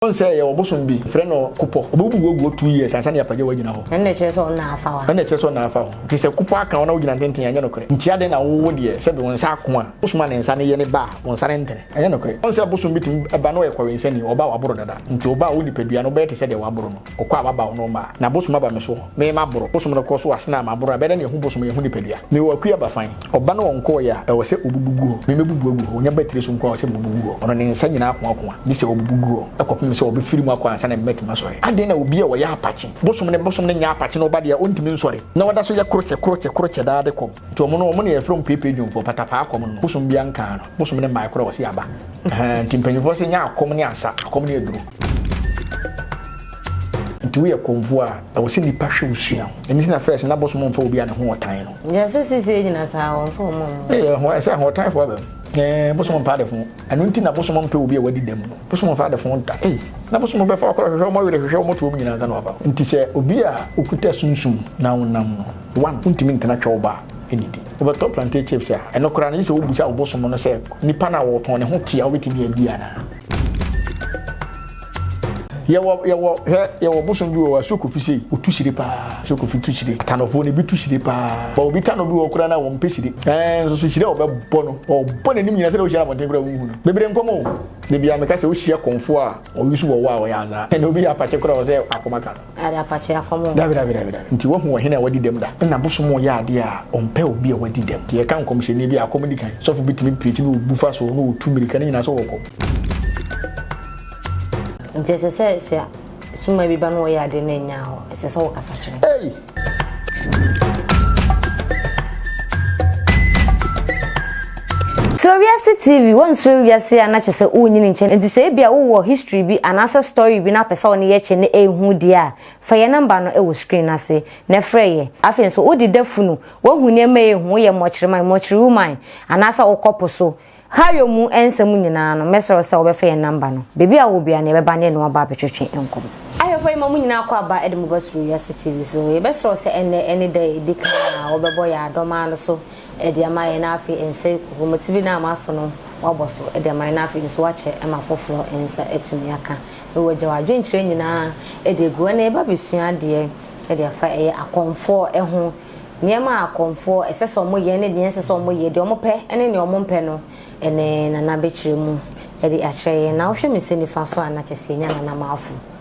Ɔn sɛ yɛwɔ bosom bi, yɛfrɛ no Kopɔ. Ɔbɛwo mu guoguo two years ansa na Apagya wagyina hɔ. Ɛno na ɛkyerɛ sɛ ɔnna afa hɔ a. Ɛno na ɛkyerɛ sɛ ɔnna afa hɔ. Nti sɛ Kopɔ aka wo na wogyina ntenten a, ɛnyɛ nokorɛ. Nti adɛn na wo, wo deɛ, sɛbe wo nsa ako a, bosom a ne nsa no yɛ ne ba a, wo nsa rentene. Ɛnyɛ nokorɛ. Ɔn sɛ bosom bi tumi ba na ɔyɛ kɔwensani, ɔba a waboro dada. Nti ɔba a wo nipadua no, wobɛyɛ te sɛ deɛ waboro no. Ɔkɔ a waba wo no ɔmma a. Na bosom aba me so, me maboro. Bosom no kɔ so a, sene a maboro a, ɛbɛyɛ dɛ na yɛhu bosom a yɛhu nipadua. Mewɔ Akua Bafan. Ɔba no ɔnkɔɔeɛ a, ɛwɔ sɛ ɔbubu gu hɔ. Memɛbubu agu hɔ. Ɔnya ba tiri so nko ara sɛ mebubu gu hɔ. Ɔno ne nsa nyinaa koakoa bi sɛ ɔbubu gu hɔ kɔpem sɛ ɔbɛfiri mu akɔ ansa na mematumi asɔre. Adɛn na obi a ɔyɛ apakye bosom ne bosom no nyɛ apakye na ɔba deɛ a ɔntumi nsɔre na ɔda so yɛ krokyɛ krokyɛ krokyɛ daa de kɔm? Nti wɔn no, wɔn na yɛfrɛ wɔn peepee dwomfoɔ, patapaa kɔm no. Bosom biara nkaa no. Bosom no mmaeɛ koraa a wɔse aba. Ahaa, nti mpanyimfoɔ se nyɛ akɔm ne asa, akɔm ne aduro. Nti woyɛ kɔmfoɔ a ɛwɔ sɛ nipa hwɛ wo sua wo. Ɛno nti na first na bosom ɔmfa obi a ne ho ɔtan no. Gyɛ sɛ seisei nyina saa wɔmfa ɔmo mmu. Ei ɛho ɛsɛ ahoɔtanfoɔ aba mu. Eeh bosom mpɛ adefo. Ɛno nti na bosom mpɛ obi a wadi dɛm no. Bosom mfa adefo da. Ei na bosom bɛfa ɔkra ɔhwehwɛ ɔmo were hwehwɛ ɔmo to ɔmo nyina ansa na wafa. Nti sɛ obi a okuta sunsum na wonam no one wontumi ntena twɛ wo ba nnidi. Wobɛtɔ plantain chips a ɛno koraa no gye sɛ wobisa wo bosom no sɛ nipa no a ɔtɔn ne ho te a wobɛtumi adi anaa. Yɛwɔ yɛwɔ hwɛ yɛwɔ bosom bi wɔ hɔ a so kofi sei otu hyire paa so kofi tu hyire tanɔfoɔ no ebi tu hyire paa bɔ obi tanɔ bi wɔ hɔ koraa na wɔn pɛ hyire ɛɛ nso so hyire a ɔbɛbɔ no ɔbɔ n'anim nyinaa sɛ na ohyia abɔnten koraa ohun no bebree nkɔm o bebi a meka sɛ ohyia kɔnfoɔ a ɔyi so wɔ wɔ a ɔyɛ azaa ɛna obi yɛ apakyɛ koraa ɔsɛ akoma ka no. Dabi, dabi, dabi, dabi. Nti woahu ɔhene a wadi dɛm da? Nna bosom yɛ adeɛ a ɔmpɛ obi a wadi dɛm. Nti yɛka nkɔmhyɛni bi a, akɔm di kan. Sɔfo bi tumi preekyi na obu fa so na otu mmirika, ne nyinaa so ɔkɔ. Nti ɛsɛ sɛ sɛ sumaa bi ba na ɔyɛ adeɛ na ɛnyɛ hɔ, ɛsɛ sɛ wokasa kyerɛ no. Ei! Suro wiase TV wonsuro wiase a na kyɛ sɛ wonyin nkyɛ nti sɛ ebia wowɔ history bi anaasɛ story bi na wopɛ sɛ wo ne yɛ kyɛ na ɛhu deɛ a fa yɛ number no wɔ screen no ase na frɛ yɛ afei nso wode da funu woahu nneɛma a ɛhu woyɛ mmɔkyereman mmɔkyere woman anaasɛ wokɔ po so ha yɔ mu nsɛm nyinaa no mɛsrɛ wo sɛ wobɛfa yɛn number no baabi a wowɔ biara no yɛbɛba ne yɛne wo aba abɛtwetwe nkɔmmɔ. Ahwɛfoɔ yɛma mo nyinaa kɔ aba de mo ba Suro Wiase TV so. Yɛbɛsrɛ wo sɛ ɛnnɛ ne da a ɛdi kan a wobɛbɔ yɛn adɔmaa no so de ama yɛn na afei nsa regu bobɔmoti bi no a moaso no woabɔ so de ama yɛn na afei nso woakyɛ ma foforɔ nsa atumi aka. Ɛwɔ wagya w'adwenkyerɛ nyinaa de agu hɔ na yɛba bɛsua adeɛ de afa ɛyɛ akɔmfoɔ ho. Nneɛma a akɔmfoɔ ɛsɛ sɛ wɔyɛ ne deɛ ɛnsɛ sɛ wɔyɛ, deɛ wɔpɛ ne deɛ wɔmpɛ no ɛnɛ Nana bɛkyerɛ mu de akyerɛ yɛn. Na wohwɛ me nsa nifa so a na kyerɛ sɛ yɛnya Nana Marfo.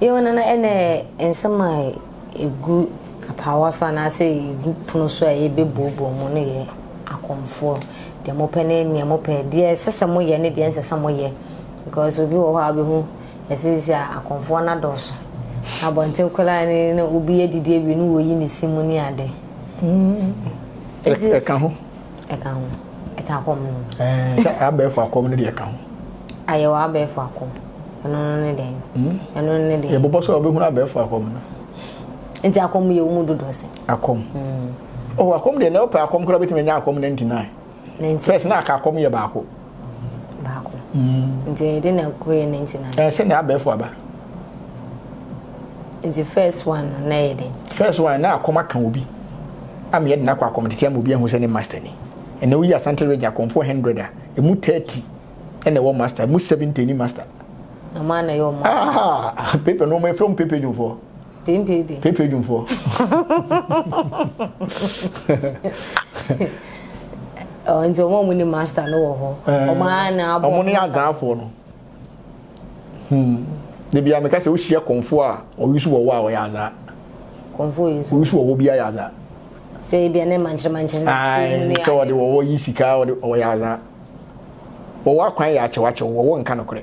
Yɛwɔ no na ɛna nsɛm a ɛgu apaawa so anaasɛ ɛgu pono so a yɛbɛbuobuo mu no yɛ akɔmfoɔ. Deɛ mopɛ ne deɛ mopɛ. Deɛ ɛsɛ sɛ moyɛ ne deɛ ɛnsɛ sɛ moyɛ. Because obi wɔ hɔ a wobɛhu ɛsisi a akɔmfoɔ no adɔɔso. Abɔnten koraa ne na obi adidi awie ne wɔyi ne si mu ne ade. Mm. Ɛka ho. Ɛka ho. Ɛka kɔm no ho. Ɛɛ, sɛ abɛɛfo akɔm no deɛ ɛka ho. Ayɛwɔ abɛɛfo akɔm. Ɛno no ne dɛn? Hmm? Ɛno no ne dɛn? Yɛbobɔ sɛ wɔbɛhunu abɛɛfo akɔm no. Nti akɔm yɛ wo mu dodoɔ sɛ? Akɔm. Hmm. Oh, akɔm deɛ, na wopɛ akɔm koraa wobɛtumi anya akɔm 99. First, na aka akɔm yɛ baako. baako mm. nti ɛyɛ dɛ na kɔyɛ ninety nine. ɛyɛ sɛ nea abɛɛfo aba. nti first one no na ɛyɛ dɛ. first one na akɔm aka obi ama yɛ de na akɔ akɔm tete ama obi ahu sɛ ne master ni ɛnna woyi asante regye akɔmfo hundred a emu thirty ɛna ɛwɔ master emu seventy ni master. ɔmo ana yɛ ɔmo. Ah, paper no ɔmo efra ɔmo paper dwofo. Pempeede. Pempeede dwumfoɔ. Nti wɔn a wɔn ni master no wɔ hɔ. Wɔn a na abɔ. Wɔn ni azanfoɔ no. Hmm. Debi a meka sɛ wohyia kɔnfo a ɔyi so wɔ wɔ a ɔyɛ azan. Kɔnfo yi so. Oyi so wɔ wɔ bi ayɛ azan. Sɛ ebi a ne mankyerɛ mankyerɛ. Ayi sɛ ɔde wɔ wɔ yi sika ɔde ɔyɛ azan. Wɔwɔ akwan yɛ akyɛwakyɛw wɔwɔ nka no korɛ.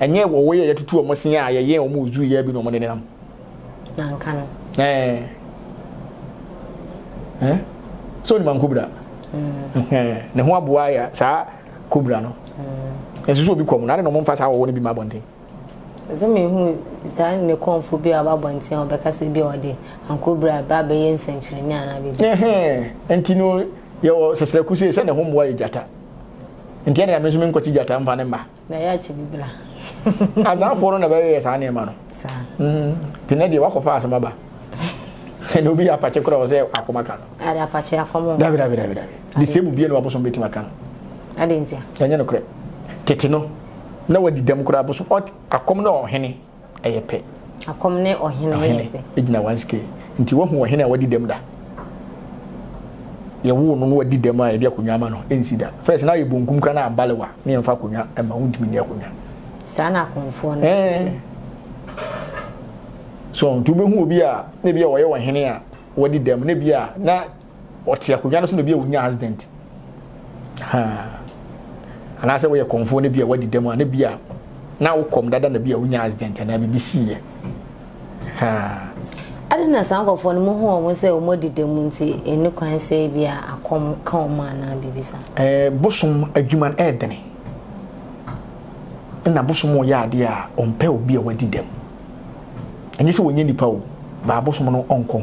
Ɛnyɛ wɔ wɔ yɛ yɛ tutu wɔn sin a yɛ yɛ wɔn ozuru yɛ bi na wɔn ne nenam. Na nka no. Ɛɛ. Ɛɛ. Sɛ onima nkobra. Ɛɛ. Ne ho aboa ya saa kobra no. Ɛɛ. Nsusu obi kɔm na ade na wɔn nfa saa wɔwɔ ne bi ma abɔnten. Ɛsɛ mi hu saa ne kɔnfo bi a ɔba abɔnten a ɔbɛka sɛ bi a ɔde ankobra ba abɛyɛ nsɛnkyerɛnne anaa biribi. Ɛhɛn. Nti no yɛ wɔ sɛsrɛku sɛ sɛ ne ho mmoa yɛ gyata. Nti ɛna mi nso mi nkɔkye gyata nfa ne mma. Na yɛ akyɛ bi bla. Azanfoɔ no na bɛyɛyɛ saa nneɛma no. Saa. Mm, tinɛ deɛ wakɔfa asɛm aba. Ɛna obi yɛ apakye koraa ɔsɛ akɔm aka no. Ade apakye akɔm. Dabi dabi dabi dabi. De sɛ mu bie na wabosom bɛtumi aka no. Ade ntia. Ɛnyɛ no korɛ. Tete no na wadi dɛm koraa bosom akɔm na ɔhene. ɛyɛ pɛ. Akɔm ne ɔhene yɛ pɛ. Ɔhene gyina one scale. Nti wahu ɔhene a wadi dɛm da? Yɛwoo no na wadi dɛm a yɛde akonnwa ama no? Ɛnsi da. First na ayɛ bonkum koraa na abalewa na yɛmfa akonnwa mma wo, wontumi nni akonnwa. Saa na akɔmfoɔ no nso te. So nti wobɛhu obi a na ebia ɔyɛ ɔhene a wadi dɛm na ebia na. Ɔte akonnwa no so na ebi a onyaa accident. Ha. Anaasɛ woyɛ kɔmfoɔ no bi a wadi dɛm a ne bi a na wokɔm dada na bi a onyaa accident anaa biribi siiɛ. Ha. Ade na saa nkɔfoɔ no mohu wɔn sɛ wɔn adi dɛm nti ɛni kwan sɛ bi a akɔm ka wɔn anaa biribi sa. Ɛɛ bosom adwuma no ɛɛdene. Ɛna bosom ɔyɛ adeɛ a ɔmpɛ obi a wadi dɛm. Ɛnyɛ sɛ wɔnyɛ nipa o, baa bosom no ɔnkɔ ho.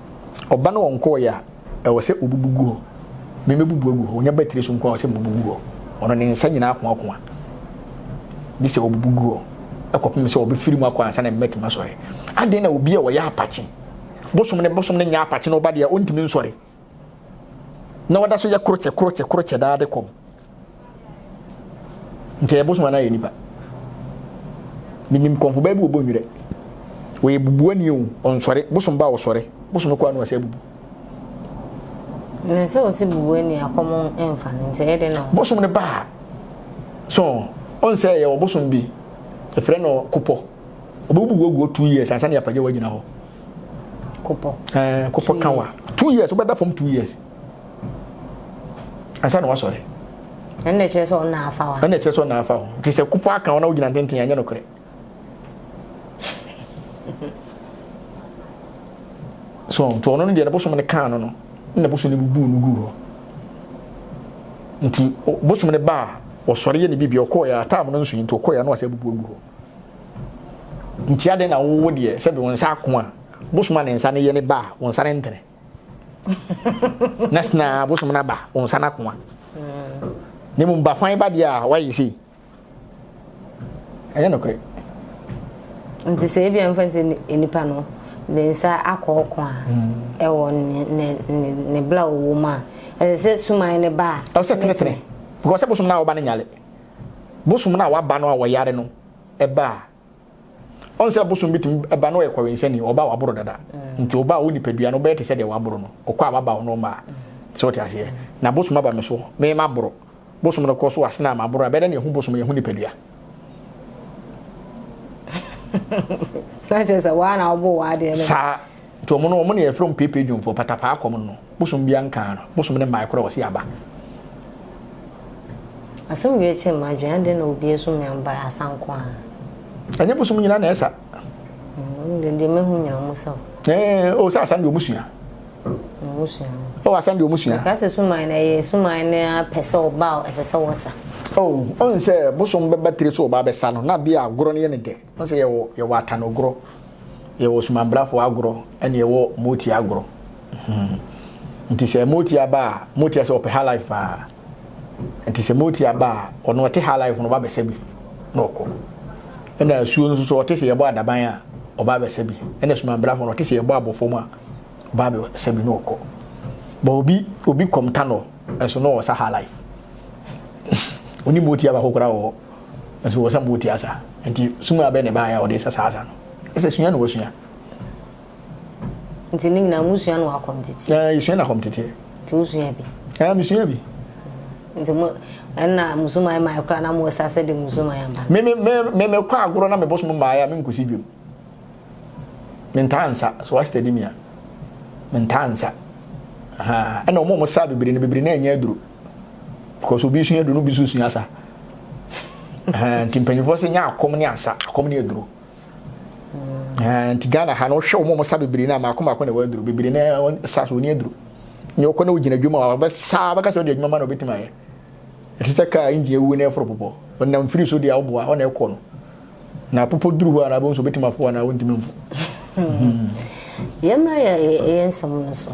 Ɔba no ɔnkɔɔeɛ a, ɛwɔ sɛ ɔbubu gu hɔ. Me mɛbubu agu hɔ. Ɔnya batiri so nko ara a, ɛwɔ sɛ mebubu gu hɔ. Ɔno ne nsa nyinaa koakoa. Gye sɛ ɔbubu gu hɔ kɔpem sɛ ɔbɛfiri mu akɔ ansa na me matumi asɔre. Adɛn na obi a ɔyɛ apakye, bosom ne bosom ne nyɛ apakye na ɔba deɛ ɔntumi nsɔre, na ɔda so yɛ krokyɛ krokyɛ krokyɛ daa de kɔm? Nka yɛ bosom anaa yɛ nipa. Menim kɔnfo baa bi wɔ Bɔnwirɛ. Wɔyɛ bubuani o, ɔnsɔre. Bosom ba a ɔsɔre. Bosom kɔ a na wasa abubu. Na sɛ ɔsi bubuani a kɔm mfa no nti ɛyɛ dɛ na. Bosom ne ba a so ɔnsɛ yɛ ɔbosom bi. Ɛfrɛ no kopɔ. Ɔbɛbubu wɔ guo two years ansa ne apagya wagyina hɔ. Kopɔ. Ɛɛ kopɔ kawa. Two years wobɛda fam two years. ansa na wasɔre ɛnna ɛkyerɛ sɛ ɔnna afa hɔ ɛnna ɛkyerɛ sɛ ɔnna afa hɔ nti sɛ kopo aka hɔ na wogyina ntenten anyɛ nokorɛ so nti ɔno no deɛ ne bosom no kaa no no na bosom no bubu no gu hɔ nti bosom no baa ɔsɔre yɛ ne bibi ɔkɔɔyɛ ataam no nso nti ɔkɔɔyɛ na wasɛ bubu agu hɔ nti adɛn na wowo deɛ sɛbi wo nsa ako a bosom a ne nsa no yɛ ne baa wo nsa no ntene na sena abosom no aba wo nsa no akoa na mmom bafan ba deɛ a woayɛ sei ɛnyɛ nokorɛ nti sɛ ebia mfa sɛ nnipa no ne nsa akɔ ɔko a hmm. ɛwɔ ne bla ɔwɔ mu a ɛsɛ sɛ suman ne ba a ɛsɛ tenetene because sɛ bosom no a wɔba no nyale bosom no a wɔaba no a wɔyare no ɛba a ɔn sɛ bosom bi tumi ba na ɔyɛ kɔwensani ɔba a waboro dada nti ɔba a wo nipadua no bɛyɛ te sɛ deɛ waboro no ɔkɔ a wabaw no ɔma sɛ ɔte aseɛ na bosom aba me so me ma boro bosom no kɔ so asena ama boro a bɛdɛ na yɛhu bosom yɛhu nipadua saa Nti ɔmo no ɔmo na yɛfrɛ ɔmo peepee dwomfoɔ, patapaa kɔm no no, bosom biaa nkaa no, bosom no mmae koraa ɔse aba. Asɛm wei kyere m'adwene, adɛn na obi asu me ambae asa nko ara? Ɛnyɛ bosom nyinaa na ɛsa. Mm, deɛ deɛ mahu nyina ɔmo sa o. Ɛɛ, o sɛ asa deɛ ɔmo sua. Ɔmo sua o. O asa deɛ ɔmo sua. Ɛka sɛ suman na ɛyɛ suman no ara pɛ sɛ ɔba a ɛsɛ sɛ wɔsa. O, ɔn sɛ bosom bɛba tire so ɔba abɛsa no, na bia agorɔ no yɛ no dɛ. Wohu sɛ yɛwɔ yɛwɔ atanogorɔ, yɛwɔ sumanbrafoɔ agorɔ, ɛna yɛwɔ Motia agorɔ. Nti sɛ Motia ba a, Motia sɛ ɔpɛ highlife paa. Nti sɛ Motia ba a, ɔno ɔte highlife no ɔba bɛsa bi na ɔkɔ. Ɛna asuo no nso so ɔte sɛ yɛbɔ adaban a, ɔba bɛsa bi. Ɛna sumanbrafoɔ no ɔte sɛ yɛbɔ abɔ fam a, ɔba bɛsa bi na ɔkɔ. But obi obi kɔm ta no. Nso na ɔwɔ saha life ɔni motia baako koraa wɔ hɔ nso wɔ sa motia sa nti sum abɛ na ɛbaayɛ a ɔde sa saa sa no ɛsɛ sua na wasua. Nti ne nyinaa mo sua no akɔm tete. Ɛɛ yɛ sua no akɔm tete. Nti wo sua bi. Ɛɛ mi sua bi. Nti mo ɛna musuman maa ɛkora na mo sa sɛ de musuman aba. Me me me me me kɔ agorɔ na me bosom mmaayɛ a me nkosi biom. mentaa nsa so wa steady me a mentaa nsa ha ɛna wɔn a wɔsa bebree no bebree na ɛnyɛ aduro because obi sua aduro no obi nso sua asa nti mpanyinfoɔ sɛ nya akɔm ne asa akɔm ne aduro nti ghana ha no wohwɛ wɔn a wɔsa bebree no a maako maako na ɛwɔ aduro bebree na ɛsa so wɔn aduro nyɛ ɔkɔ na ogyina adwuma a ɔbɛsa bɛka sɛ ɔde adwuma ma na ɔbɛtumi ayɛ ɛte sɛ kaa engine ewu na ɛforo popɔ ɔnam firi so deɛ ɔboa ɔna ɛkɔ no. Na popo duru hɔ a na abom so obetumi afo anaa ontumi mfo. Yɛmmra yɛ yɛ nsɛm no so.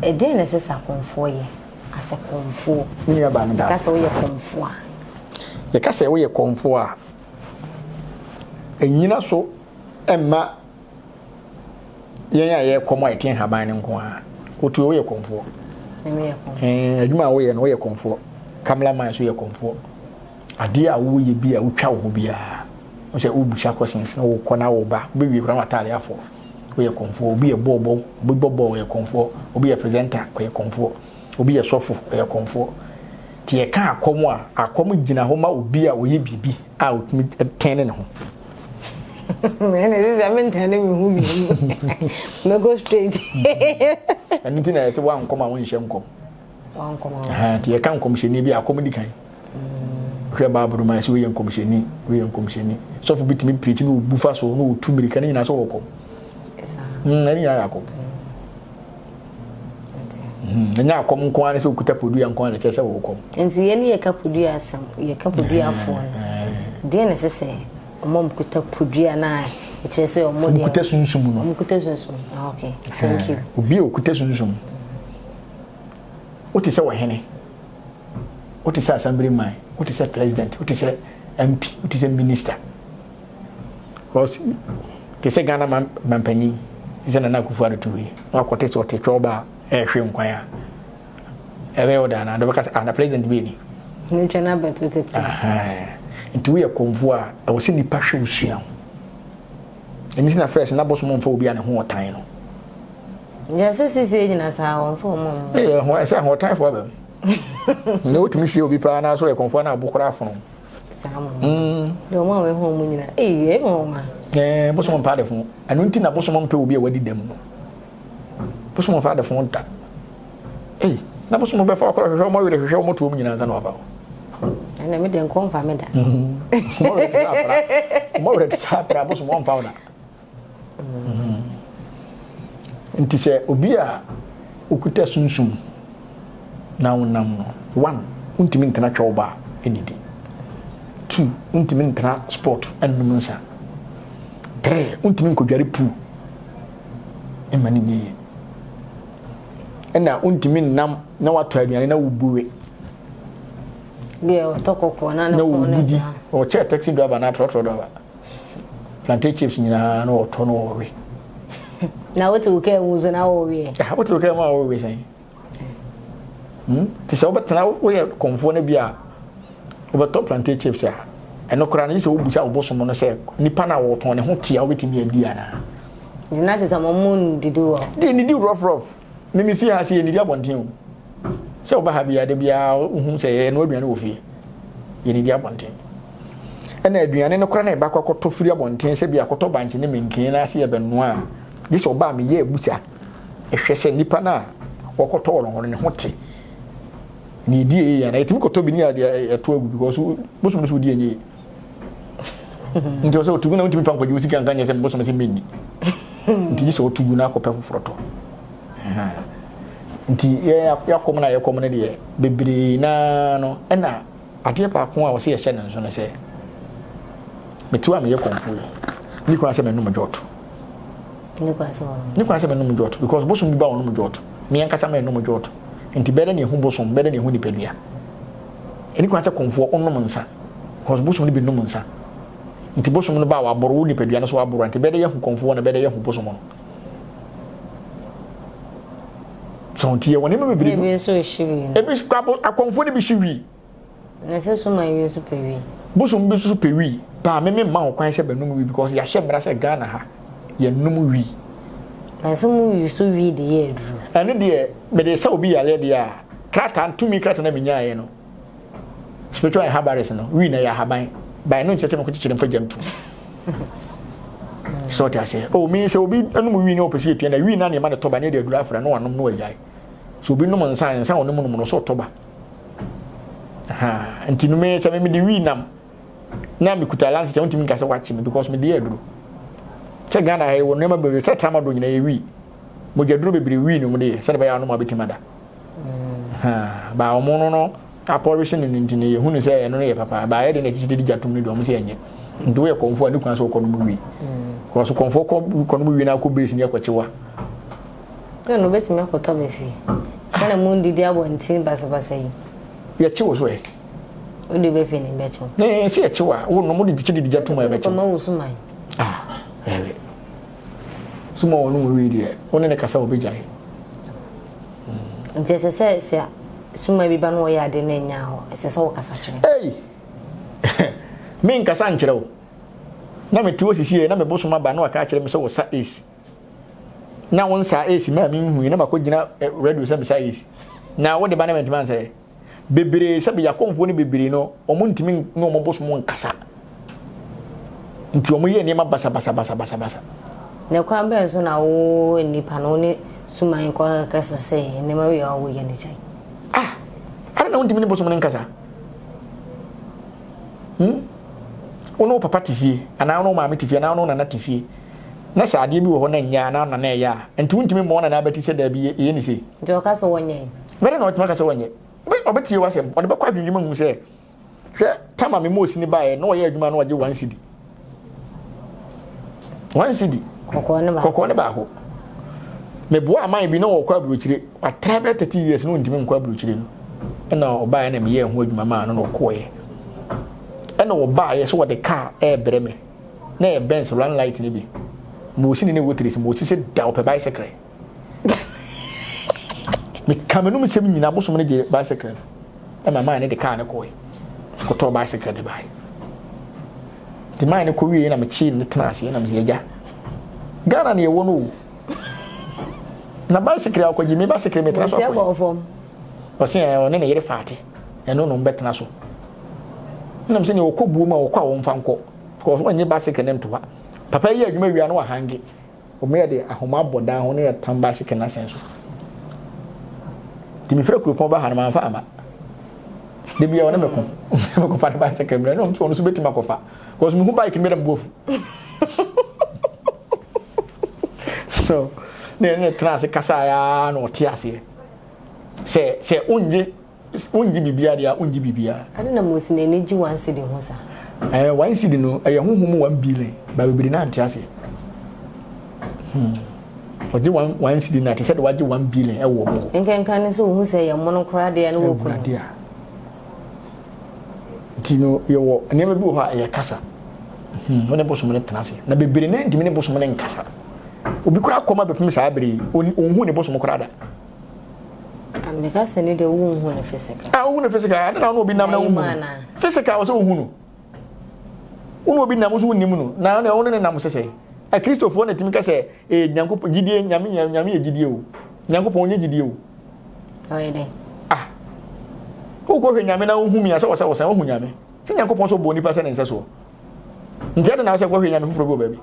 Ɛdeɛn na ɛsɛ sɛ akɔmfoɔ yɛ asɛ kɔmfoɔ? Me nua baa no daa. Yɛka sɛ woyɛ kɔmfoɔ a. Yɛka sɛ woyɛ kɔmfoɔ a. Ɛnyina so ɛmma yɛn a yɛyɛ kɔm a yɛte nhaban no nko a. Wotu yɛ woyɛ kɔmfoɔ. Ɛɛ adwuma a woyɛ no woyɛ kɔmfoɔ. Kamala man so yɛ kɔmfoɔ. Adeɛ a woyɛ bi a wotwa wo ho biara, wohu sɛ wobisa questions, wokɔ na woba, wobɛwie koraa na w'atadeɛ afɔ. Woyɛ kɔmfoɔ. Obi yɛ bɔɔlbɔ, obi bɔ bɔɔl, ɔyɛ kɔmfoɔ. Obi yɛ presenter, ɔyɛ kɔmfoɔ. Obi yɛ sɔfo, ɔyɛ kɔmfoɔ. Nti yɛka akɔm a, akɔm gyina hɔ ma obi a ɔyɛ biribi a ɔtumi tɛne ne ho. Ɛnna ɛsɛ sɛ mentɛne me ho mmienu. Mɛkɔ straight. Ɛno nti na yɛte woankɔm a wonhyɛ nkɔm. nti yɛka nkɔmhyɛni bi akɔm di kan hwɛ baabolo ma ɛsɛ woyɛ nkɔmhyɛni woyɛ nkɔmhyɛni sɔfo bi tumi pirikyi ne obu fa so ne otu mmirika ne nyinaa sɛ wɔkɔ hmm, ɛne nyinaa yɛ akɔm hmm, ɛnyɛ akɔm nko ara sɛ okuta podua nko ara kyerɛ sɛ wɔkɔm nti yɛn ne yɛka podua asɛm yɛka podua afoɔ no deɛ na ɛsɛ sɛ wɔn a wɔkuta podua no a ɛkyerɛ sɛ wɔn deɛ wɔkuta sunsum no wɔkuta sunsum ah, okay thank you obi a okuta sunsum Wote sɛ ɔhene, wote sɛ asambere man, wote sɛ president, wote sɛ MP, wote sɛ minister. Because te sɛ Ghana man mampanyin sɛ Nana Akufo-Addo to wei. Na wakɔte sɛ ɔte twɛw ba ɛrehwe nkwan a. Ɛbɛyɛ wo daa na dɔ bɛka sɛ ah na president bi ni. Ne twɛn abɛto tete. Nti woyɛ kɔmfo a ɛwɔ sɛ nipa hwɛ wo sua ho. Ɛno nti na first na bosom mfa obi a ne ho ɔtan no. Yɛ sɛ sisi nyina saa wɔn fɔ wɔn mu. Ɛyɛ ho ɛsɛ ho ɔtan fo abɛm. Na wotumi hyia obi paa na so yɛ kɔnfo na abo koraa fono. Saa mo. Mm. Na wɔn a wɔho wɔn nyina. Ɛyɛ yɛ mo ma. Ɛɛ bosom mpa de fo. Ɛno nti na bosom mpa obi a wadi dɛm no. Bosom mfa de fo da. Ei, na bosom no bɛfa ɔkɔrɔ hwehwɛ wɔn werɛ hwehwɛ wɔn to wɔn nyinaa nsa na wafa wɔn. Ɛnna mi de nko nfa mi da. Wɔn werɛ te saa akora bosom wɔn nfa wɔn da. Nti sɛ obi a okuta sunsum na wonam no one wontumi ntena twɛw ba enidi two wontumi ntena sport nnum nsa three wontumi nkɔdware pool ɛma ne nyɛ yie. ɛna wontumi nnam na watɔ aduane na wobu we. Deɛ ɔtɔ kɔkɔɔ na ne kɔn no da. Ɔkyɛ taxi driver na trɔtrɔ driver. Plantain chips nyinaa na ɔtɔ no wɔ we. Na wote wo kaa mu so na wɔ we. Ah, wote wo kaa mu a wɔ we sɛn? Hmm? Te sɛ wobɛtena woyɛ kɔmfoɔ no bi a wobɛtɔ plantain chips a ɛno koraa no gye sɛ wobusa wobosom no sɛ nipa no a wɔtɔn ne ho te a wobɛtumi adi anaa Nti na kyerɛ sɛ mo mo nnidi wɔ hɔ. Deɛ nnidi rough rough. Me me fie ha se yɛnnidi abɔnten o. Sɛ woba ha biara da biara wohu sɛ yɛnoa aduane wɔ fie. Yɛnnidi abɔnten. Ɛna aduane no koraa na yɛbɛakɔ akɔtɔ firi abɔnten sɛ bi akɔtɔ bankye ne menkee na ase yɛbɛnoa a, gye sɛ ɔba a meyɛ abusa hwɛ sɛ nipa no a wɔkɔtɔ wɔ no hɔ no ne ho te. Na ɛdi yie anaa yɛtumi kɔtɔ bi ne yɛde ato agu because bosom no so wodi yɛ nyɛ yie. nti ɔsɛ ɔtugu na wontumi fa nkɔgye wo sika nka nyɛ sɛ mbosome sɛ menni nti gye sɛ ɔtugu na akɔpɛ foforɔ tɔ nti yɛakɔm no a yɛkɔm no deɛ bebree naa no ɛna adeɛ baako a ɔsɛ yɛhyɛ no nso no sɛ metiw a meyɛ kɔmfo yi ne kwan sɛ menom dwɔto ne kwan sɛ menom dwɔto because bosom bi ba ɔnom dwɔto meankasa menom dwɔto nti bɛdɛ ne ɛhu bosom bɛdɛ ne ɛhu nipadua ɛne kwan sɛ kɔmfoɔ ɔnom nsa Cause bosom no bi nnom nsa nti bosom no ba a waboro wo nipadua no so waboro a nti bɛyɛ dɛ yɛhu kɔmfoɔ na bɛyɛ dɛ yɛhu bosom no so nti yɛwɔ nneɛma bebree ebi nso ehyi wi ebi akɔmfoɔ no bi hyi wi na sɛ so man wi nso pɛ wi bosom bi nso pɛ wi paa meme mma ho kwan sɛ bɛnom wi because yɛahyɛ mmara sɛ Ghana ha yɛnom wi na sɛ mu wi so wi de yɛ aduru ɛno deɛ mede sɛ obi yareɛ deɛ a krataa tumi krataa na menyaeɛ no Spiritual Herbalist no, wii na ɛyɛ ahaban. Bae no nkyerɛ sɛ mekɔ kyekyere mfa gya ntu. Sɛ ɔte aseɛ. O, oh, me sɛ obi nom wii ne ɔpɛ sɛ yɛtua na wii na ne ɛma ne tɔba ne ɛde aduru afra na wanom na wagyae. Sɛ obi nom nsa nsa a ɔnom nom no sɛ ɔtɔba. Nti no me sɛ mede wii nam na mekuta lanse sɛ wontumi nka sɛ wakye me because mede yɛ aduru. Sɛ Ghana ha yɛwɔ nneɛma bebree sɛ tramadol nyinaa yɛ wii. Mogyaduro bebree wii no mu de yɛ sɛdeɛ bɛyɛ anom a bɛtumi ada. baa wɔn no no apɔrehye no no nti no yɛhu no sɛ ɛno no yɛ papa baa yɛ de no akyikyi de gya tom no deɛ wɔn sɛ ɛnyɛ nti woyɛ kɔnfoɔ a ne kwan sɛ ɔkɔ no mu wie kɔso kɔnfoɔ kɔ no mu wie no akɔ base no yɛkɔkyewa na no bɛtumi akɔtɔ bɛ fie sɛ na mu ndidi abɔnten basabasa yi yɛkyewo so ɛ wode bɛfie ne bɛkyew sɛ yɛkyew a wonom wode gye de gya tom a ɛbɛkyew ma wo so man ah ɛbɛ Soma wɔnom wee deɛ, wo ne no kasa ɔbɛgyae. Nti ɛsɛ sɛ sɛ soma bi ba na ɔyɛ ade na ɛnyɛ hɔ, ɛsɛ sɛ wokasa kyerɛ no? Ei! Me nkasa nkyerɛ wo. Na mete hɔ sisiɛ na me bosom aba na waka akyerɛ me sɛ wɔsa ace. Na wo nsaa ace maa menhui na makɔgyina radio sɛ mesa ace. Na wode ba na mantumi ansɛeɛ. bebree sɛbi yakomfoɔ no bebree no wɔn ntumi ne wɔn bosom nkasa nti wɔn yɛ nneɛma basabasabasabasa. na kwan bɛn so na wo nipa no ne suman kɔ kasa sɛ nneɛma wei a wɔwɔ yɛ ne kyɛn. ah ara na wɔn ntumi ne bosom no nkasa hmm wɔn wo papa te fie anaa wɔn maame te fie anaa wɔn nana te fie na sɛ adeɛ bi wɔ hɔ na nyɛ anaa nana ɛyɛ a nti wɔn ntumi mmɔ nana abɛti sɛ daabi yɛ ne se. nti ɔka sɛ wɔnyɛ. Dɛn na ɔbɛtumi aka sɛ ɔnyɛ? Ɔbɛtie w'asɛm. Ɔde bɛkɔ adwennwene mu ahu sɛ, Hwɛ, Tamar mema osini baeɛ na ɔyɛɛ adwuma a na ɔgye one cedi. One cedi. Kɔkɔɔ ne baako. Kɔkɔɔ ne baako. Meboa aman bi na wɔkɔ aburokyire. Watra bɛyɛ thirty years na ɔntumi nkɔ aburokyire no. Ɛna ɔbaeɛ na meyɛɛ ho adwuma maa no na ɔkɔeɛ. Ɛna wɔbaeɛ sɛ wɔde kaa ɛrebrɛ me. Na ɛyɛ Benz run light no bi. Mewɔ sini ne wɔ tiri si. Mewɔ sisi da ɔpɛ bicycle. meka m'anum nsɛm nyina abosom no gye bicycle no ɛna maa ne de kaa no kɔe kɔtɔɔ bicycle de bae de maa ne kɔwie na mekyee ne tena aseɛ na mesɛ agya ghana ne yɛwɔ no o na bicycle a ɔkɔgye me bicycle metena so akɔe ɔse ɔne ne yere faate ɛno no mbɛtena so nam sɛ neɛ ɔkɔ buo mu a ɔkɔ a wɔmfa nkɔ because ɔnyɛ bicycle ne ntoa papa yi adwuma wia no wahange Wɔyɛ de ahoma abɔ dan ho na yɛtam baesekre no asɛn so. Nti mefrɛ kuropɔn ba ha no mamfa ama. Da biara ɔne me ko. Mekɔfa ne baesekre mmerɛ na ɔno nso bɛtumi akɔfa. Because mehu bike mmerɛ mbu afu. So, na yɛne tena ase kasaeɛ ara na ɔte aseɛ. Sɛ sɛ ɔngye S, Wongye biribiara deɛ a, wongye biribiara. Ade na Mosi n'ani gye one cedi ho saa. Ɛɛ, one cedi no, ɛyɛ honhom mu one billion, but bebree no ara nte aseɛ. Hmm. Ɔgye one, one cedi no a, te sɛ deɛ wagye one billion ɛwɔ wɔn hɔ. Nkenkan ne sɛ wohu sɛ ɛyɛ mono koraa deɛ ne wɔku no. Awurade a. Nti no, yɛwɔ nneɛma bi wɔ hɔ a ɛyɛ kasa. Hmm, wo ne bosom no tena ase. Na bebree no ntumi ne bosom no nkasa. Obi koraa kɔm abɛpem saa bere yi, ɔnhu ne bosom koraa da. Ah, meka sɛ ne deɛ wonhu no physical. Ah, wohu no physical, ade na wo obi nam na wohu no. Physical wɔ sɛ wohu no. Wo ne obi nam so wonim no, na ɔne wo ne nam sɛ sɛ. Akristofoɔ na ɛtumi ka sɛ, ee, Nyankopɔn, gyidie, nyame, nyame yɛ gyidie o. Nyankopɔn nyɛ gyidie o. Ɔyɛ dɛ. Ah, wokɔhwɛ nyame na wohu mi a sɛ wɔ sɛ wɔ sɛ wohu nyame. Sɛ Nyankopɔn sɛ ɔbɔ nipa sɛ ne nsɛ soɔ. Nti ɛde na wo sɛ kɔhwɛ nyame foforɔ bi wɔ baabi.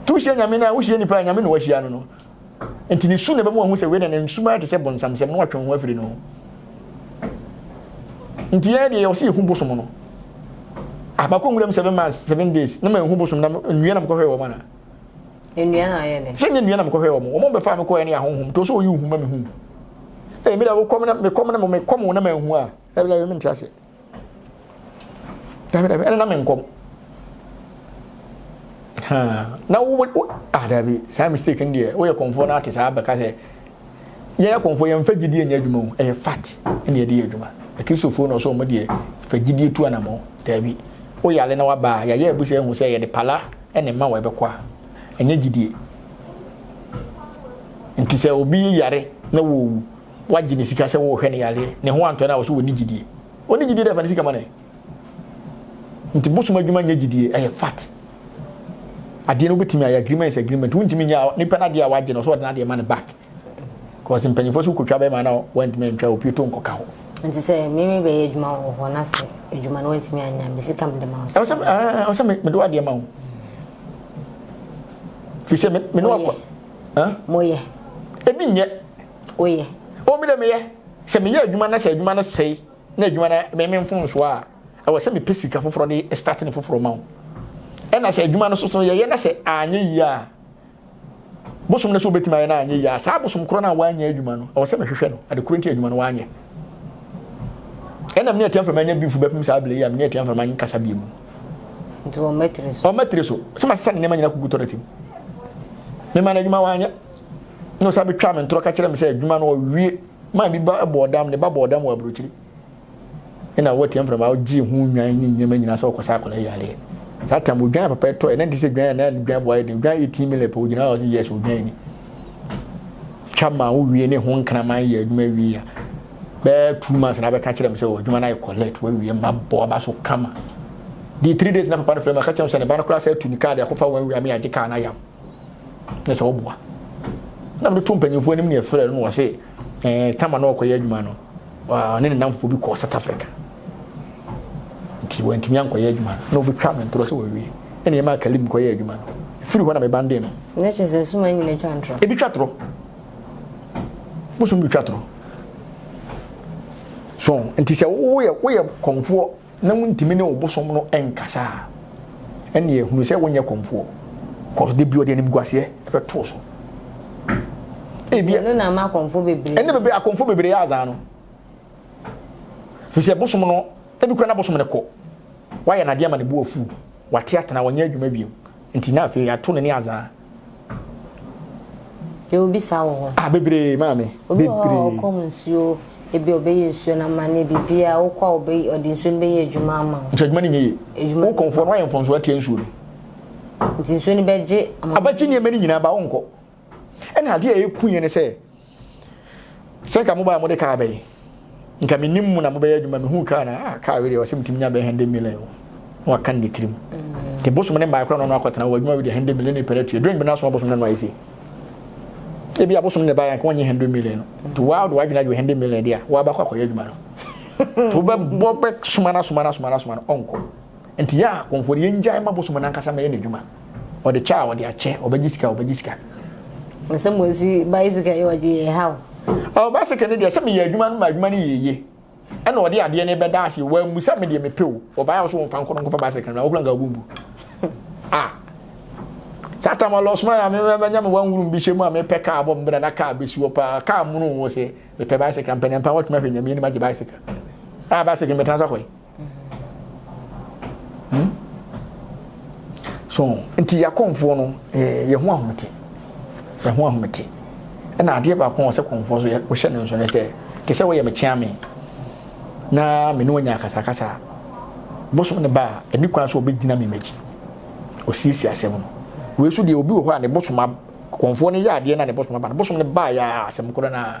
Tu hyia nyame no a, wohyia nipa a nyame na wahyia no no. Enti ne su na ɛbɛma wahu sɛ wei na ne nsumaeɛ te sɛ bonsamsɛm na watwe wo ho afiri ne ho. Nti yɛn deɛ yɛwɔ sɛ yɛhu bosom no. Ah, makɔ nwuram seven months, seven days, na manhu bosom na nnua na mekɔhwɛɛ wɔn ana? Nnua na ayɛ dɛ. Sɛ nyɛ nnua na mekɔhwɛɛ wɔn, wɔn bɛfaa me kɔɛ ne ahonhom, to sɛ ɔyi wo hu ma mehu. Ee, me da wokɔm na mekɔm na mekɔm wo na manhu a, ɛbla yɛ mente aseɛ. dabi dabi ɛna na me nkɔm na wo wo ah dabi saa mistake no deɛ woyɛ kɔnfoɔ no ate saa bɛka sɛ yɛyɛ kɔnfoɔ yɛmfa gyidie nyɛ adwuma mu ɛyɛ fat ɛna yɛde yɛ adwuma akristofoɔ no ɔsɛ ɔmo deɛ fa gyidie tu anamɔ dabi woyare na waba a yɛayɛ abusa ahu sɛ yɛde pala ɛne ma wɔ ɛbɛkɔ a ɛnyɛ gyidie nti sɛ obi yare na wɔwu Wagye ne sika sɛ wɔrehwɛ ne yareɛ. Ne ho antɔ no a, ɔse ɔnni gyidie. Ɔnni gyidie dɛ fa ne sika ma no ɛ. Nti bosom adwuma nyɛ gyidie, ɛyɛ fat. Adeɛ no wobɛtumi ayɛ, agreement is agreement. Wontumi nyɛ a, nipa no adeɛ a wagye no, ɔsɛ ɔde n'adeɛ ma no back. Cause mpanyinfoɔ sɛ wokɔtwa bɛma no a, woantumi antwa, opue to nkɔka hɔ. Nti sɛ me me bɛyɛ adwuma wɔ hɔ na sɛ adwuma no woantumi anyɛ a, me sika mede ma wo. Ɛwɔ sɛ ɛɛ, ɔsɛ me mede w'adeɛ ma wo. Firi sɛ me me ne wakɔ. Moyɛ. Moyɛ. Ebi nyɛ. woyɛ? O me de meyɛ. Sɛ meyɛ adwuma na sɛ adwuma no sɛe na adwuma no me me mfomsoɔ a, ɛwɔ sɛ mepɛ sika foforɔ de start no foforɔ ma wo. Ɛna sɛ adwuma no so so yɛyɛ na sɛ anyɛ yie a, bosom no so wobɛtumi ayɛ na anyɛ yie a, saa bosom korɔ no a woanyɛ adwuma no, ɛwɔ sɛ mehwehwɛ no, ade korɔ nti adwuma no woanyɛ. Ɛna me ne Atia Mframa anya beef bɛpem saa berɛ yi a me ne Atia Mframa nkasa bio mu. Nti ɔmma tiri so. Ɔmma tiri so. Sɛ masesa ne nneɛma nyina kugu tɔrɛtim. Mema no adwuma wanyɛ. na ɔsan bɛtwaa me ntorɔ ka kyerɛ me sɛ adwuma no ɔwie maa bi ba bɔɔ dam ne ba bɔɔ dam wɔ aburokyiri ɛna wɔatia mframa ɔgyee ho nnwan ne nneɛma nyinaa sɛ ɔkɔsa akɔla yi adeɛ saa tam odwan papa ɛtɔ ɛna nti sɛ dwan ɛna dwan boa ɛden dwan yɛ tii mi lɛpɛ ogyina hɔ sɛ yes odwan ni twa ma wowie ne ho nkraman yɛ adwuma wie a bɛɛ two months na bɛka kyerɛ me sɛ adwuma no ayɛ collect wawie ma bɔ aba so kama di three days na papa no frɛ me aka kyerɛ me sɛ ne ba no koraa sɛ atu ne kaa de akɔfa wɔn awia me agye kaa no ayam na sɛ ɔboa na mede to mpanyinfoɔ anim na yɛfrɛ no na wɔse ɛɛ eh, tama na ɔkɔyɛ adwuma no ɔne ne namfoɔ bi kɔɔ south africa nti wɔntumi ankɔyɛ adwuma na wɔbɛtwa me ntorɔ sɛ wɔwie ɛne ɛma akalim kɔyɛ adwuma no ɛfiri hɔ na mebande no na kyɛ sɛ suma nyina twa ntorɔ ebi twa torɔ bosom bi twa torɔ so nti sɛ woyɛ woyɛ kɔmfoɔ na wontumi ne wo bosom no nkasa a, ɛnneɛ hunu sɛ wonyɛ kɔmfoɔ, cause da bi ɔde animguaseɛ bɛto wo so. Ebi ɛno na ama akɔmfo bebree. Ɛne bebree akɔmfo bebree yɛ azaa no. Fi sɛ bosom no, ebi kura na bosom no kɔ. Wayɛ n'adeɛ ama ne bo afu, wate atena, wɔnyɛ adwuma bio. Nti na afei ato ne ne azaa. Yɛ obi saa wɔ hɔ. Ah bebree maame. Obi wɔ hɔ a ɔkɔm nsuo ebi ɔbɛyɛ nsuo no ama ne biribi a wokɔ a ɔbɛ ɔde nsuo no bɛyɛ adwuma ama wo. Nti adwuma no nyɛ yie. Adwuma no. Wokɔmfoɔ no wayɛ mfomsoɔ atia nsuo no. Nti nsuo no bɛgye ama. Abɛgye nneɛma no nyinaa ba wonkɔ. Ɛna adeɛ a ɛku yɛn ne sɛ. sɛ nka mobaa mode kaa bɛyɛ nka menim mu na mobɛyɛ adwuma mehu kaa na ah, kaa wedeɛ ɔsɛ metumi nya bɛyɛ hɛnde million o na waka ne tirim mm. nti bosom ne mmaa kora no no akɔtena wɔ adwuma wedeɛ hɛnde million ne pɛrɛ tue drink bɛna so abosom no no ayɛ sei ebi abosom ne baayɛ nka wɔnyɛ hɛnde million no nti waa de wadwene adwe hɛnde million deɛ a waabakɔ akɔyɛ adwuma no nti wobɛbɔ bɛsoma no asoma no asoma no asoma no ɔnkɔ Nti yɛ a kɔmfoɔ de yɛngyae mma bosom no ankasa mmɛyɛ n'adwuma. Ɔde kyɛ a ɔde akyɛ, ɔbɛgye sika a ɔbɛgye sika. Sɛ mosi bicycle yɛ ɔgye yɛ ha o. Ɔɔ bicycle no deɛ sɛ meyɛ adwuma no ma adwuma no yɛ yie ɛna ɔde adeɛ no bɛda ase o, wammu sɛ medeɛ mepɛ o, ɔbaeɛ a wo so womfa nkɔ no nkɔfa bicycle no bra, wo koraa nka wo bo mbu. Ah! Saa tam a lɔsoma yɛ a me manya me wanwuru me bihyɛ mu a mepɛ kaa bɔ me bra na kaa bɛsi hɔ paa, kaa mono o, sɛ mepɛ bicycle a mpaniampa wɔtwem ahwɛ Nyame anim agye bicycle. Ah bicycle no mɛtena so akɔ he? Hmm? So, nti yɛakɔmfoɔ no, yɛ ho ahomete. Yɛ ho ahomete. Ɛna adeɛ baako wɔ sɛ kɔmfoɔ so wohyɛ no nso ne sɛ, te sɛ woyɛ mekyea me na me ne wanya akasakasa bosom ne ba a, ɛni kwan so ɔbɛgyina me m'akyi. Ɔsiesie asɛm no. Wei so deɛ obi wɔ hɔ a ne bosom kɔmfoɔ no yɛ adeɛ na ne bosom aba no bosom no baa yɛ asɛm korɔ no a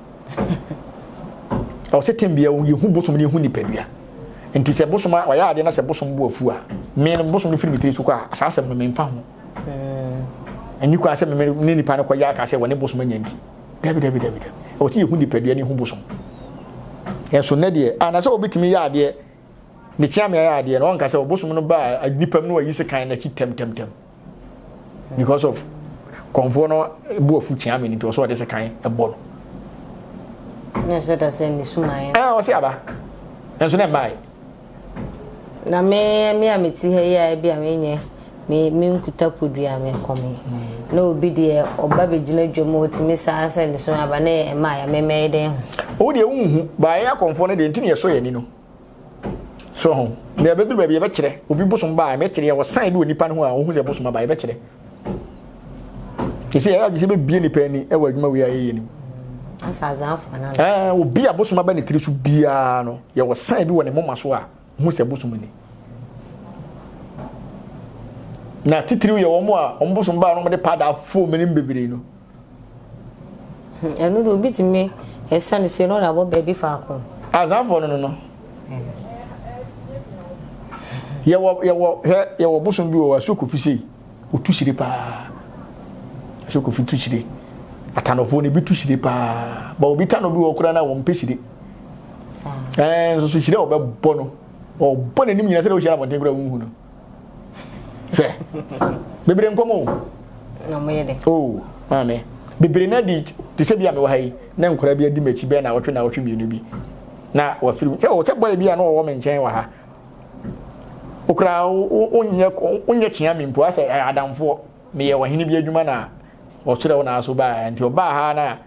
ɛwɔ sɛ tɛm biara yɛhu bosom no yɛhu nipadua nti sɛ bosom a wayɛ adeɛ na sɛ bosom bo afu a me no bosom no firi me tiri so kɔ a saa asɛm no memfa ho ɛni kɔ a sɛ me ne nipa no kɔyɛ aka sɛ wɔne bosom anya nti dabi dabi dabi dabi ɛwɔ sɛ yɛhu nipadua ne hu bosom ɛnso nnɛ deɛ anasɛ wɔbɛtumi yɛ adeɛ ne kyea me ayɛ adeɛ na ɔnka sɛ ɔbosom no baa nnipa mu no wayi se kan no akyi tɛmtɛmtɛm because of kɔnfoɔ no bu afu kyea me nti ɔsɛ ɔde sekan ɛbɔ no na ɛsɛ da sɛ ne sumaeɛ ɛɛ ɔsɛ aba nso na mmae na me me a meti ha yi a bi a menyɛ me me nkuta podua me kɔme hmm. na obi deɛ ɔba bɛgyina dwam ɔtumi saa sɛ ne so aba ne ɛma a yɛmemɛe dɛn ho wo deɛ wonhu baeɛ akɔmfoɔ no deɛ nti ne yɛsɔ yɛni no so ho na ɛbɛduru baabi yɛbɛkyerɛ obi bosom baa mɛkyerɛ yɛwɔ san bi wɔ nipa no ho a wohu sɛ bosom aba yɛbɛkyerɛ ɛsɛ yɛyɛ adwesɛ bɛbie nipa ani ɛwɔ adwuma wei a yɛyɛ no mu obi a bosom aba ne tiri so biara no yɛwɔ san bi wɔ ne moma so a hu sɛ bosom ni na titiriw yɛ wɔn a wɔn bosom baa no wɔde paada fom ne bebree no Ɛno de obi tumi ɛsa ne sɛ no na abɔ baabi faako. Azanfoɔ no no no. Yɛwɔ yɛwɔ hɛ yɛwɔ bosom bi wɔ hɔ asuo kofi sei otu hyire paa asuo kofi tu hyire atanɔfoɔ no ebi tu hyire paa ba obi tanɔ bi wɔ koraa na wɔn mpɛ hyire ɛɛ nso so hyire a wɔbɛbɔ no ɔbɔ n'anim nyina sɛ na ohyia abɔnten koraa wɔn hu no. hwɛ bebree nkɔmɔ o na ɔmo yɛ dɛ o oh, maame bebree na di te sɛ bi a mewɔ ha yi na nkora bi adi m'akyi bɛyɛ na awɔtwe na awɔtwe mmienu bi na wafiri mu sɛ o sɛ bɔyɛ bi a na ɔwɔ me nkyɛn wɔ ha okura wonyɛ wonyɛ kyea mi mpo asɛ adamfoɔ meyɛ wɔhene bi adwuma na ɔkyerɛ wo na aso baa nti ɔbaa ha na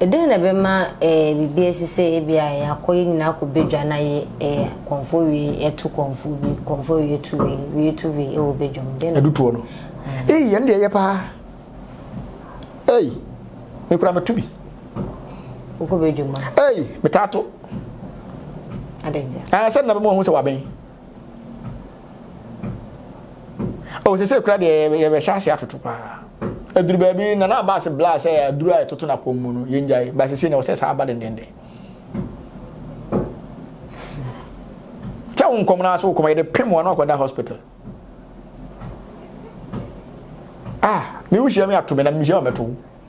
Dɛn na ɛbɛma biribi asi sɛ ebia yɛakɔ yɛn nyinaa akɔ badwa na yɛ kɔmfo wei to kɔmfo bi, kɔmfo wei to wei, wei to wei wɔ badwa mu? Dɛn na ɛdutoɔ no? Ei, yɛn deɛ yɛ paa. Ei, mekura meto bi. Wokɔ badwa mu a? Ei, metaa to. Adɛn nti? Sɛ nna bɛma wɔn ho sɛ wabɛn. o sɛ sɛ kura deɛ yɛbɛhyɛ ase atoto paa aduru baabi na na baase bla sɛ aduru a ɛtoto no akɔm mu no yɛngyae baase sei na wɔ sɛ saa aba dendenden sɛ wo nkɔm no aso wokɔma yɛde pem wɔn akɔda hospital ah me wohyia me ato me na mehyia wɔmɛto wo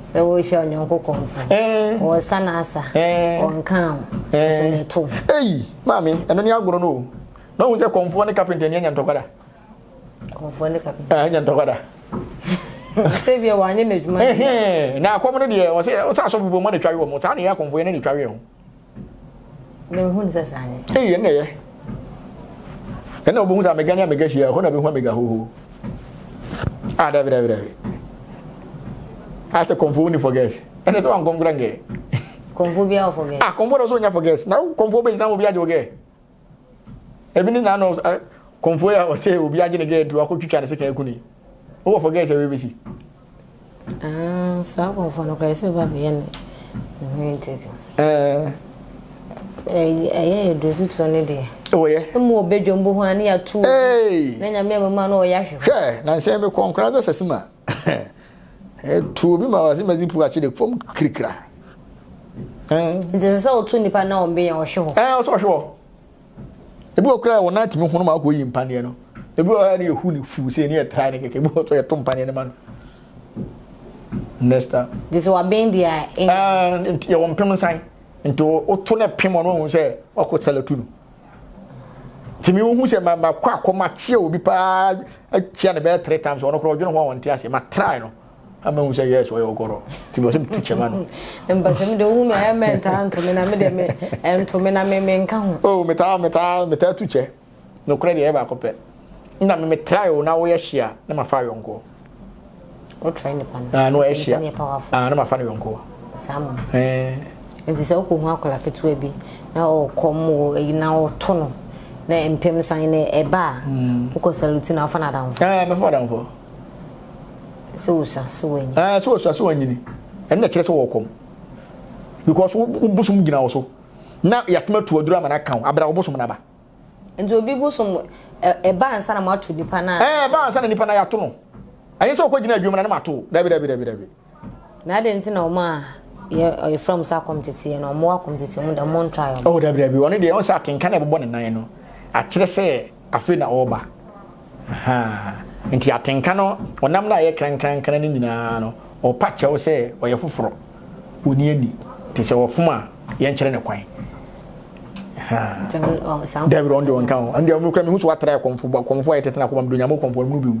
Sɛ worehyia wo nyɔnko kɔmfo, ɔresa n'asa, ɔnka wo, ɔsɛ ne to. Ei, maame, ɛno ne agorɔ no o. Na wohu sɛ kɔmfoɔ ne kapenta ni anya ntɔkwa da? Kɔmfoɔ ne kapenta. Ah, anya ntɔkwa da. Sɛ bia wɔanyɛ n'adwuma. Na akɔm no deɛ, wɔsɛ asɔfo bɔ mu na twa we wɔn. Saa na ɛyɛ akɔmfoɔ yɛ na twa we wɔn. na mehu no sɛ saa nyɛ ei ɛnna ɛyɛ ɛnna wobɛhu sɛ amega ne amega hyia hɔ na bɛhu amega hoho a ah, dabi dabi dabi asɛ kɔmfo woni for gas ɛnɛ sɛ wankɔnkora ngɛ kɔmfo biaa wɔ for gas ah kɔmfo dɔ sɛ wonya for gas na kɔmfo bɛgyina wɔ bi agye wo gɛ ebi ne na no eh, kɔnfo yɛ ɔsɛ obi agye ne gɛɛ du akɔtwitwa ne sekan aku ne wowɔ fɔ gɛɛ sɛ webɛsi ah, saa kɔnfo no koraa sɛ ba bɛyɛ ne ho interview eh. ɛyɛ yɛ duro tutuo no deɛ wɔyɛ mu ɔbɛdwam bɔ ho a ne yɛato na nyame abɛma no ɔyɛ ahwehwɛ hwɛ na nsɛn mekɔ nkora dɔ sɛ sima Ɛtu obi ma ɔse mɛdze pu akyɛ dɛ fam kirikira. Nti ɛsɛ sɛ wotu nipa na wɔn benya ɔhwe hɔ. Ɛɛ ɔsɛ ɔhwe hɔ. Ebi wɔ koraa wɔn nan tumi hono ma akɔ yi mpaneɛ no. Ebi wɔ hɔ ne ehu ne fu sɛ ne yɛ tra ne kɛkɛ. Ebi wɔ so yɛ to mpaneɛ no ma no. Next time. Nti sɛ waben deɛ a. Ɛɛ yɛ wɔn pem nsan. Nti woto na pem ɔno ohun sɛ wakɔ sɛlɛ tu no. tìmí wohu sɛ ma ma kɔ akɔ ma kyia obi paa akyia ne bɛyɛ three times ɔno koraa ɔdwene ho a ɔnte aseɛ ma try no ama hu sɛ yes ɔyɛ ɔgɔrɔ tìmí ɔsɛ metu kyɛma no. mpɛsɛ mi de ohun mi ɛyɛ mɛ ntaa ntumi na mi de mi ntumi na mi mi nka ho. o metaa metaa metaa tu kyɛ nokorɛ deɛ ɛyɛ baako pɛ nna mi mi try o na woyɛ hyia na ma fa ayɔnkoɔ. wotra nipa no ah no ɛhyia ah na ma fa ne yɔnko saa mo ɛɛ nti sɛ wokɔ hu akɔla ketewa bi na ɔkɔ mo ɛyi na ɔto no na mpem san ne ɛba a hmm. wokɔ salute na afa no adamfo ɛɛ mɛfa adamfo sɛ wosua sɛ wanyini ɛɛ sɛ wosua sɛ wanyini ɛno na kyerɛ sɛ wɔkɔm because wobosom gyina wo so na yɛatoma tu aduru ama no aka wo abra wobosom no aba Nti obi bo som ɛba ansa na moato nipa no a. Ɛɛ ɛba ansa na nipa no yɛato no. Ɛnyɛ sɛ wokɔ gyina adwuma na ne ma to. Dabi dabi dabi dabi. Na adɛn nti na wɔn a yɛ yɛfrɛ wɔn sɛ akɔmteteɛ no wɔn wɔ akɔmteteɛ mu dɛm wɔn try wɔn. Oh dabi dabi wɔn deɛ wɔn sɛ atenka na ɛbobɔ ne nan no akyerɛ sɛ afei na ɔreba. Ahaa. Enti atenka no, ɔnam no a ɛyɛ krankrankran no nyinaa no, ɔrepa kyɛw sɛ ɔyɛ foforɔ. Onni ani. Te sɛ ɔfom a yɛnkyerɛ no kwan. Ahaa. Daabi, ɔno deɛ ɔnka ho. Ɛno deɛ, ɔno kura mehu sɛ watrae kɔmfo, kɔmfo a yɛtete no akoma mu, de Onyame kɔmfo, ɔno no bɛwu.